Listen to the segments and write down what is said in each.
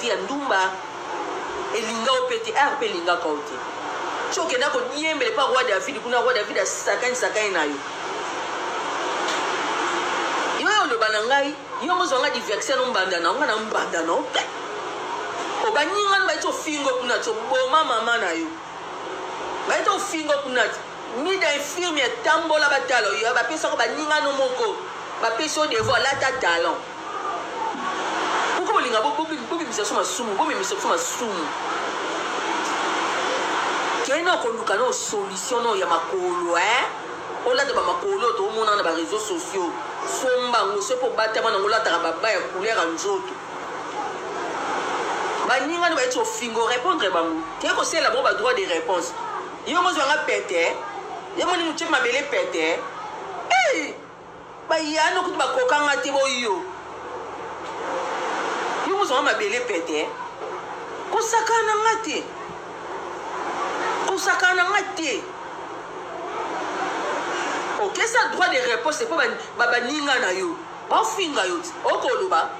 Ya ndumba elinga yo pe te art pe elingaka yo te ti okenda ko diembela epa roi david kuna roi david asakani sakani na yo yo yo loba na ngai yo mozo nga diversion no mbanda na nga na mbanda no pe obanyi nga ba to fingo kuna to boma mama na yo ba to fingo kuna mida infirmier tambola batalo yo ba pesa ko ba ninga no moko ba pesa devoir lata talent Boko bolinga bo bobimisa biso masumu, bomemisa biso masumu. Kende na koluka no solution no ya makolo eh. Olata ba makolo oyo toomona na ba réseaux sociaux. Somba yango soki obatama nango olataka baba ya couleur ya nzoto. Baninga no bayeti ofingo repondre bango. Kende kosalela bango ba droit de réponse. Yo mozwa nga pete eh. Yo moni mutie mabele pete eh. Hey! Bayano kutu bakoka nga te bo yo. Yo mozanga mabele pete. Kosakana nga te. Kosakana nga te. Okesa droit de réponse mpo baninga na yo bafinga yo okoloba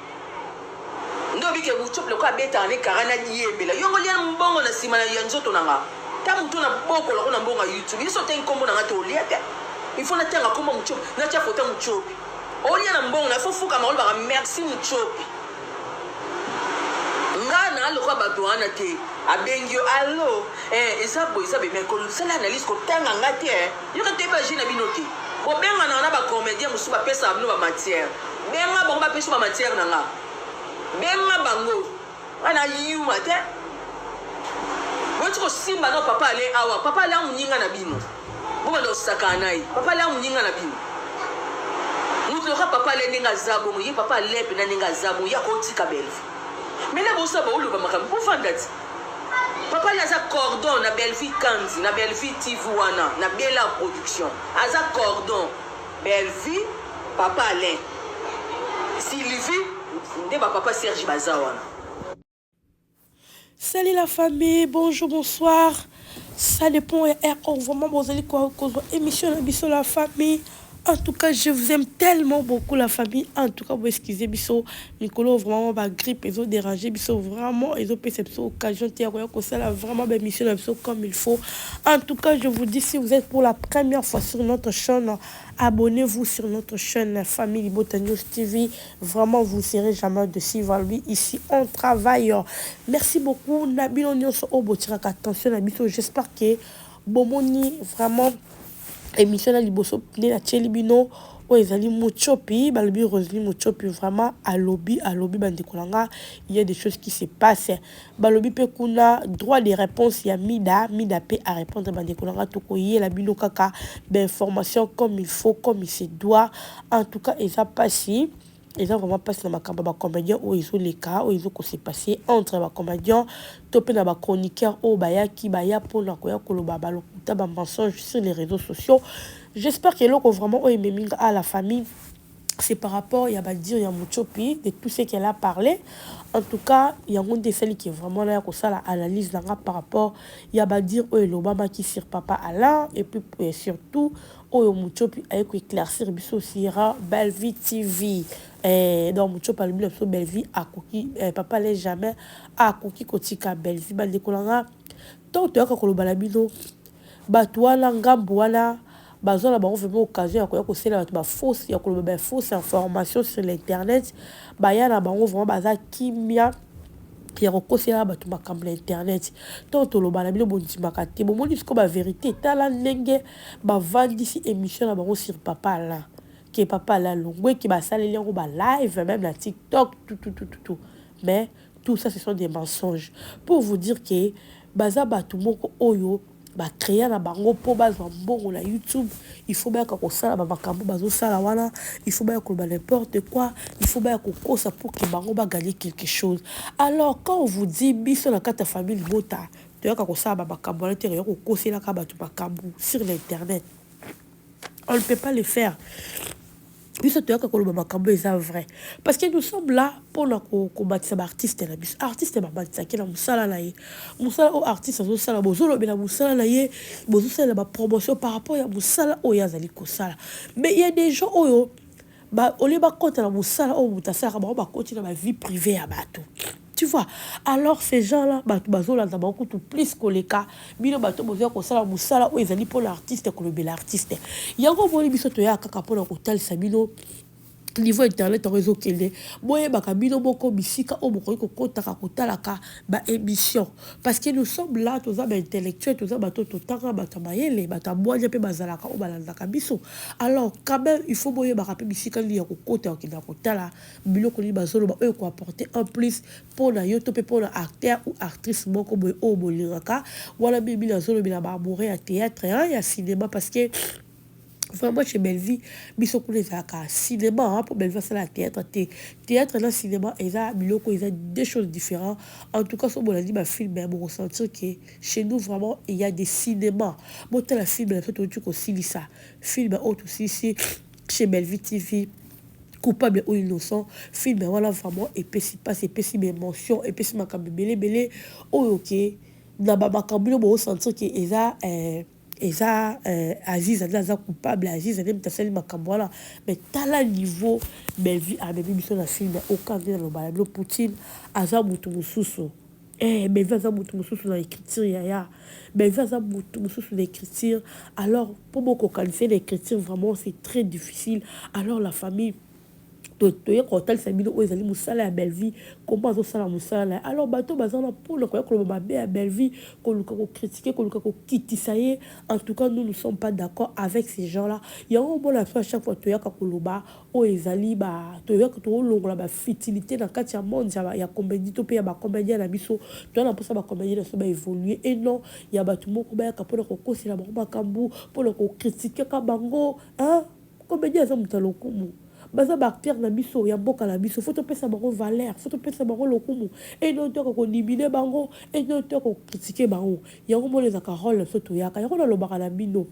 Nde obi ke buchop lokola abetaka ne kara na diembela yo ngo lia mbongo na sima na ya nzoto na nga ta mutu na boko loko na mbongo ya youtube yo so tangi kombo na nga te olia te il faut na tanga kombo ya muchop na tia foto ya muchopi olia na mbongo na fo fukama olobaka merci muchopi nga na lokola bato wana te abengi yo allo eh, eza boye eza boye mais kosala analyse kotanga nga te eh. Yoka te pe agit na bino te. Bobenga nanga na ba comediens mosusu ba pesaka bino ba matières. Benga bango ba pesa yo ba matières na nga. Benga bango. Nga na yuma te. Boti ko simba no papa ale awa. Papa ale a muninga na bino. Bo banda ko sakana na ye. Papa ale a muninga na bino. Mutu loka papa ale ndenge aza bongo. Ye papa ale pena ndenge aza bongo. Ye akotika Bellevue. Mena bosala ba oloba makambo. Bo fanda ti. Papa na aza cordon na Bellevue Kandy na Bellevue TV wana na Bella production aza cordon Bellevue papa Alain Sylvie nde ba papa Serge baza wana. Salut la famille, bonjour, bonsoir. Ça depend ya heure oyo vraiment bozali kozwa emission na biso la famille en tout cas je vous aime tellement beaucoup la famille en tout cas vous excusez biso mikolo vraiment ba grippe ezo déranger biso vraiment ezo pesa biso occasion te ya koya kosala vraiment ba émission na biso comme il faut en tout cas je vous dis si vous êtes pour la première fois sur notre chaîne abonnez-vous sur notre chaîne famille libota news tv Vraiment vous ne serez jamais dessus va lui ici on travail merci beaucoup na bino nionso oyo botikaka attention na biso j'espère que bomoni vraiment émission na liboso nde natieli bino oyo ezali mochopi balobi rosely mochopi vraiment alobi alobi bandeko na nga il y a des choses qui se passe Balobi pe kuna droit de reponse ya mida, mida pe a repondre bandeko na nga toko yela bino kaka ba informations comme il faut comme il se doit en tout cas eza pasi eza vraiment pasi na makambo ya ba comediens oyo ezo leka oyo ezo ko se passer entre ba comediens to pe na ba chroniqueurs oyo bayaki baya pona koya koloba ba lokuta ba mensonges sur les reseaux sociaux j'espère que eloko vraiment oyo ememi nga a la famille C'est par rapport ya ba dire ya Mutshopi de tout ce qu'elle a parle. En tout cas, yango nde esali ke vraiment naya kosala analyse na nga par rapport ya ba dire oyo elobamaki sur Papa Alain et puis euh, surtout oyo Mutshopi aye ko éclaircir biso sur Bellevue TV. Eh, donc Mutshopi alobi na biso Bellevue akoki eh, Papa Alain jamais akoki kotika Bellevue. Bandeko na nga, ntango toyaka koloba na bino Batu wana ngambu wana bazua na bango vraiment occasion ya koya kosalela batu ba fausse ya koloba ba fausse information sur l'internet baya na bango vraiment baza kimia ya kokosela batu makambo na internet ntango toloba na bino bondimaka te bomoni sikoyo ba verite tala ndenge bavandisi emission na bango sur papa alain ke papa alain longwe ke basaleli yango ba live meme na tiktok tututututu mais Tout ça ce sont des mensonges pour vous dire que baza batu moko oyo ba crea na bango po bazwa mbongo na YouTube il faut bayaka kosala ba makambo bazosala wana il faut baya koloba n'importe quoi il faut baya kokosa pour que bango ba gagner quelque chose alors quand on vous dit biso na kati ya famille libota toyaka kosala ba makambo wana te toya kokoselaka bato makambo sur l'internet on ne peut pas le faire biso toyaka koloba makambo eza vrai parce que nous sommes là mpona kobakisa baartiste na biso artiste babakisaki na mosala na ye mosala oyo artiste azosala bozolobela mosala na ye bozosalela bapromotion par rapport ya mosala oyo azali kosala mais ya des gens oyo olie bakota na mosala oyo moto asalaka bango bakoti na bavie privé ya bato Tu vois alors ces gens là batu bazolanda bango kutu plus koleka bino bato bozoya kosala mosala oyo ezali mpo na artiste kolobela artiste yango omoni biso toyaka kaka mpo na kotalisa bino niveau internet yango ezokende boyebaka bino moko bisika oyo bokoki kokotaka kotalaka baémission parce que nous sommes là toza baintellectuel toza bato totanga bato ya mayele bato ya bwanya mpe bazalaka oyo balandaka biso alors quand même il faut boyebaka mpe bisika nini ya kokota okenda kotala Biloko nini bazoloba oyo eko apporter un plus pona yo to pe pona acteur ou actrice moko boye oyo bolingaka? Wana mingi mingi nazolobela ba amoureux ya theatre hein ya cinema parce que vraiment chez Bellevue biso kuna ezalaka cinema hein po Bellevue asalaka theatre te. Theatre na cinema eza biloko eza deux choses differents. En tout cas soki bolandi ba films boko sentir que chez nous vraiment il ya des cinemas. Botala film na biso touti kosilisa film oyo tosilisi Chez Bellevue TV coupable ou innocent film wana vraiment epesi pasi epesi ba emotions epesi makambo ebele ebele oyo ke na ba makambo bino bo sentir ke eza eh, eza eh, Aziza nde aza coupable Aziza nde moto asali makambo wana mais tala niveau Bellevue amemi biso na film oyo kaka nde nalobaka na bino Poutine aza moto mosusu Eeh Bellevue aza mutu mususu na ecriture yaya Bellevue aza mutu mususu na ecriture alors po bo kokanisa ye na ecriture vraiment c'est très difficile alors la famille toye kotalisa bino oyo ezali musala ya Bellevue comment azo sala musala na ye alors bato oyo baza wana pona koya koloba mabe ya Bellevue koluka ko critiquer koluka kokitisa ye en tout cas nous nous sommes pas d'accord avec ces gens là yango omona biso à chaque fois toyaka koloba Oyo ezali ba toyaki tolongola ba futilites na kati ya monde ya ya comedie to pe ya ba comediens na biso. Toza na posa ba comediens na biso ba evoluer et non ya batu moko bayaka pona kokosela bango makambu, pona ko critiquer ka bango hein! Comedien aza mutu ya lokumu, baza ba acteurs na biso ya mboka na biso, faut topesa bango valeur, faut topesa bango lokumu et non toyaka ko niminer bango et non toyaka ko critiquer bango. Yango omoni ezalaka role na biso toyaka, yango nalobaka na bino.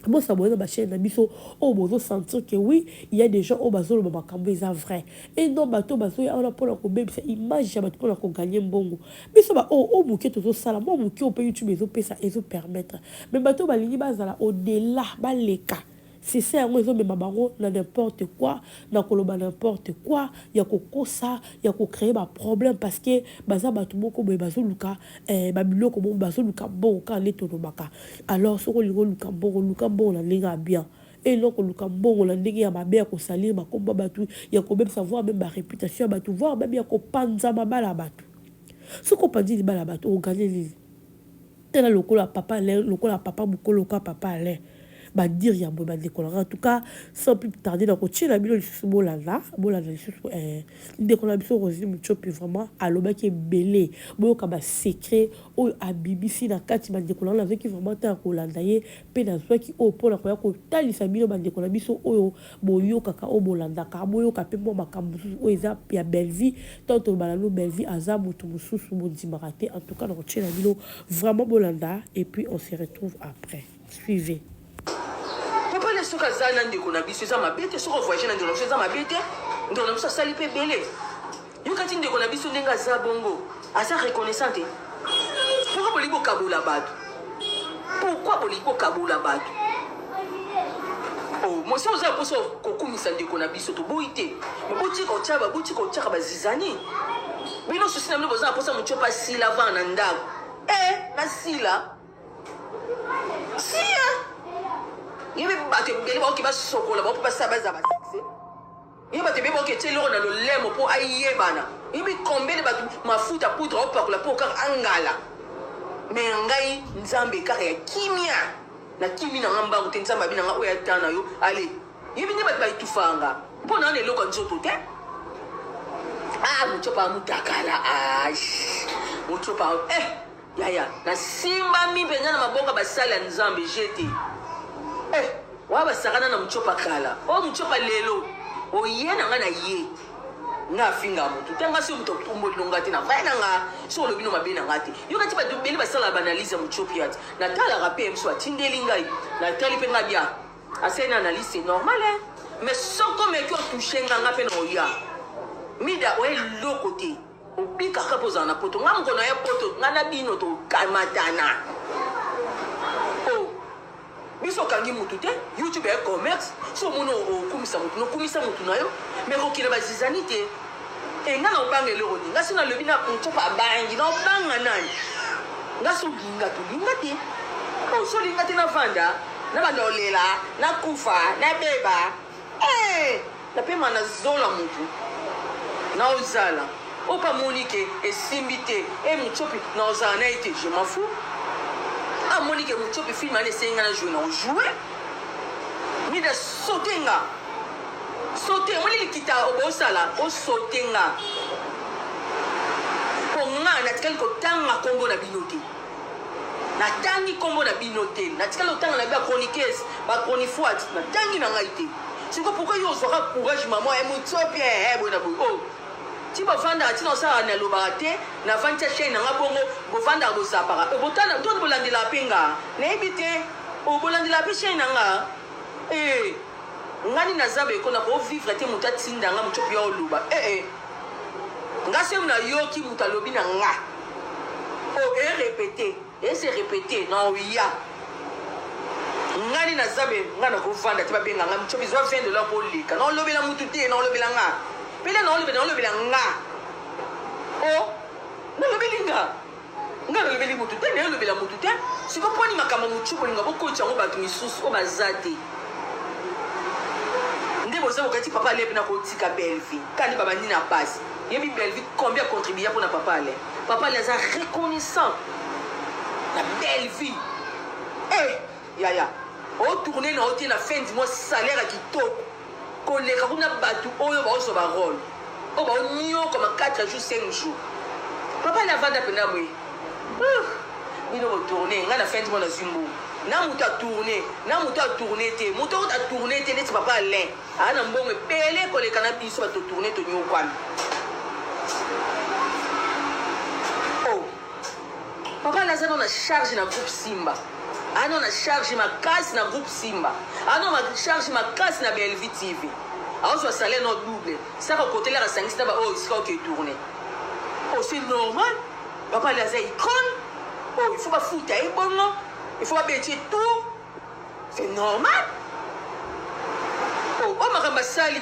Bo s'abonner na ba chaines na biso oyo bozo sentir que oui il y'a des gens oyo bazo loba makambu eza vrai et non batu oyo bazo ya wana pona ko bebisa image ya batu pona ko gagner mbongo. Biso ba oyo oyo muke tozo sala mua muke oyo pe YouTube ezo pesa ezo permettre mais batu oyo balingi ba zala au dela ba leka succès yango ezo mema bango na n'importe quoi na ko loba n'importe quoi ya ko kosa ya ko creer ba problème parce que baza batu moko boye bazo luka eh ba biloko moko bazo luka mbongo kaka nde to lobaka. Alors soki olingi oluka mbongo luka mbongo na ndenge ya bien et non koluka mbongo na ndenge ya mabe ya ko salir ba kombo ya batu ya kobebisa voir meme ba reputation ya batu voir meme ya kopanza mabala ya batu soki opanzi libala ya batu oko gagner nini? Tala lokola papa Alain lokola papa mukolo lokola papa Alain ba dire ya boye ba ndeko na nga en tout cas sans plus tarder na kotiela bino lisusu bolanda bolanda lisusu eh ndeko na biso Roselyne Mutshopi vraiment alobaki ebele boyoka ba secret oyo abibisi na kati bandeko na nazwaki vraiment ntango ya kolanda ye mpe nazwaki oyo mpo na koya kotalisa bino bandeko na biso oyo boyokaka oyo bolandaka boyoka mpe mwa makambo mosusu oyo eza ya bellevie ntango toloba nanu bellevie aza moto mosusu bondimaka te en tout cas na kotyela bino vraiment bolanda et puis on se retrouve après suivez. Papa na soki aza na ndeko na biso eza mabe te soki ovoyage na ndeko na biso eza mabe te ndeko na biso asali mpe ebele yokati ndeko na biso ndenge aza bongo aza reconnaissant te pourkui bolingi kokabola bato pourkui bolingi kokabola bato oh, mosi oza mposa kokumisa ndeko na biso toboyi te boti kotya baboti kotyaka bazizani bino susi na bino boza na mposa motyo mpe asila vana na ndako e eh, nasila siya ye mpe bato ebele baoki basokola baoki basala bazala basukse ye bato ebele baoki etye eloko na lolemo mpo ayebana yebi kombele bato mafuta poudre aopakola mpo kaka angala me ya ngai nzambe kaka ya kimia na kimi na nga mbangu te nzambe abi na nga oyo ata na yo ale yebi nde bato baetufaa nga mpo na wana eloko ya nzoto te ah mocopa mutakala ah mocopa eh Yaya, nasimbami mpenza na maboko ya basali ya Nzambe. GT. Eh, wana basakana na Mutshopa kala. Oyo Mutshopa lelo, oye na nga na ye. Nga afinga mutu. Te nga soki mutu atomboli no nga te, na vaya na nga, soki olobi no mabe na nga te. Yo kati bato ebele basalaka ba analyse ya Mutshopiat. Natalaka mpe ye mosusu atindeli ngai. Natali mpe nga bia. Asali na analyse, c'est normal hein. Mais soki omeki otouche nga, nga mpe na oya. Mida, oye eloko te. Obika kaka ozala na poto. Nga moko na ya poto. Nga na bino tokamatana. Oh. Biso okangi mutu te. YouTube ya commerce. So omoni okumisa mutu. Nokumisa mutu na yo. Me kokina bazizani te. E nga na obanga eloko te. Nga si nalobi na mutsopa abangi. Na obanga nani. Nga so linga to linga te. Oh, so linga te na vanda. Na banda olela. Na kufa. Na beba. Eh. Hey! Napema na zola mutu nao zala oyo pe amoni ke esimbi te eh mutshiopi nao zala naye te je m'en fous oyo amoni ke mutshiopi film wana esengi nga na joue nao joue mida saute nga saute omoni likita obosala osaute nga po nga natikali kotanga kombo na bino te. Na tangi kombo na bino te. Na tikali otanga na ba chroniqueuse, ba chronifuati. Na tangi na ngai te. Sikoyo pourquoi yo ozwaka courage maman eh mutsopi eh eh boye na boye oh. Ti bovandaka ti na osalaka na lobaka te, na vandisa chaine na nga bongo bovandaka bo zapaka. Eh botala to bolandelaka pe nga. Na yebi te. Oh bolandelaka pe chaine na nga eh. Nga nini naza boye ko na ko vivre te mutu atinda nga mutsopi ya oloba eh eh. Nga soki na yoki mutu alobi na nga o e repete e se repete na oya ngani na zabe nga na kovanda te babenga nga mchobi zwa 20 dollars po leka na olobela mutu te na olobela nga pele na olobela na olobela nga o nalobeli nga Nga nalobeli mutu te nayo lobela mutu te siko pwani makambo mutshu bolinga bokotcha yango batu misusu oyo baza te nde boza bokati papa ale pena kotika belvi kani babandi na base yebi belvi combien ya contribuya pona papa ale papa ale aza reconnaissant na belvi eh yaya o tourne na yo te na fin du mois salaire ya kitoko Koleka kuna batu oyo bao zua ba role oyo bao niokwama 4 jours 5 jours papa na vanda pena boye uh bino bo tourne nga na fin du mois nazui mbongo na moto a tourne na moto a tourne te moto oyo ta tourne te neti papa alain aa na mbongo ebele koleka na biso bato tourne toniokwami Papa naza no na charge na groupe simba ano na charge makasi na groupe simba ano ma charge makasi na Bellevue TV aozwa salaire no double saka kotelaka asangisi na ba oyo esika oke tourne oh c'est normal papa ali aza icone oh il faut bafuta ye bongo il faut babeti ye tour c'est normal oh oyo makambo asali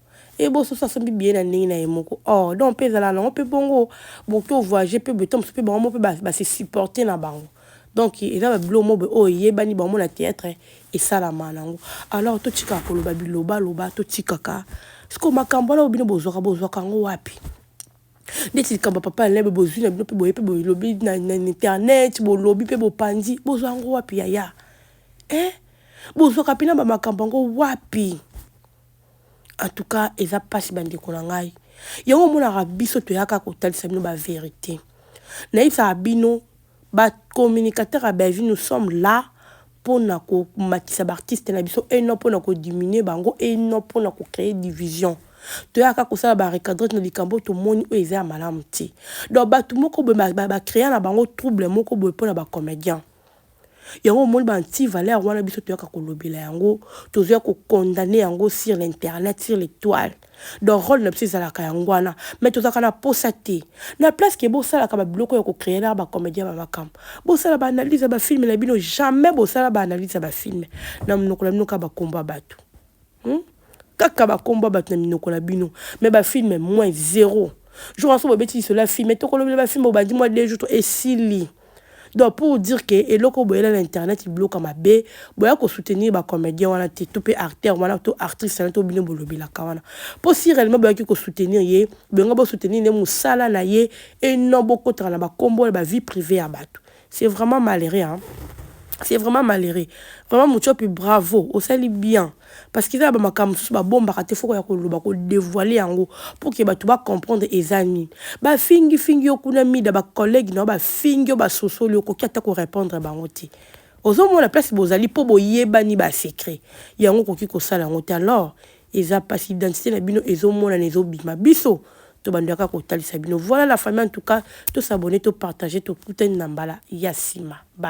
Et bo soso asombi billet na ndenge na ye moko. Oh, donc pe ezala nango pe bongo bo to voyager pe boye to mosusu pe bango moko pe ba se supporter na bango. Donc eza ba biloko moko boye oyo eyebani bango moko na theatre esalama nango. Alors to tikaka koloba biloba loba to tikaka. Sikoyo makambu wana oyo bino bo zwaka bo zwaka yango wapi? Neti likambu ya papa Alain boye bo zui na bino pe boye pe bo lobi na internet bo lobi pe bo panzi bo zwa yango wapi yaya? Eh! Bo zwaka pena ba makambu yango wapi? En tout cas eza pasi ba ndeko na ngai yango omonaka biso toyaka kotalisa bino ba verite nayebisaka bino ba communicateur ya Bellevue nous sommes là pona komatisa ba artiste na biso et non pona ko diminuer bango et non pona ko créer division toyaka kosala ba recadrete na likambo oyo tomoni oyo eza ya malamu te donc bato moko boye ba créer na bango trouble moko boye pona ba comedien Yango omoni ba anti valeur wana biso toyaka kolobela yango, tozoya ko condamner yango sur l'internet, sur les toiles. Donc role na biso ezalaka yango wana, mais tozalaka na posa te. Na place que bosalaka ba biloko ya ko creer na ba comediens ba makambo, bosala ba analyses ya ba films na bino, jamais bosala ba analyses ya ba films na munoko na bino kaka ba kombo ya batu. Hum? Kaka ba kombo ba na minoko na bino. Mais ba film moins zéro. Jour aso ba beti lisolo ya film, mais toko lobela ba film obandi moi deux jours to esili. Donc pour dire que eloko boyela na internet bloka mabe, boya ko soutenir ba comédien wana te, to pe acteur wana to actrice wana to bino bolobela kawana. Po si réellement boyaki ko soutenir ye, benga bo soutenir ne musala na ye et non bokotaka na ba kombo na ba vie privée ya batu. C'est vraiment malheureux hein. C'est vraiment malheureux. Vraiment Mutshopi bravo, osali bien. Parce que eza ba makambo mosusu ba bombaka te foko ya koloba ko devoiler yango pour que bato ba comprendre eza nini. Ba fingi fingi yo kuna mida ba collègues na yo ba fingi yo ba sosoli yo okoki ata ko repondre bango te. Ozo mona place bozali po boyebani ba secret. Yango okoki kosala yango te alors Eza pasi identite na bino ezo monana ezo bima biso to bando yaka ko talisa bino voilà la famille en tout cas to s'abonner to partager to kutani na mbala ya sima bye.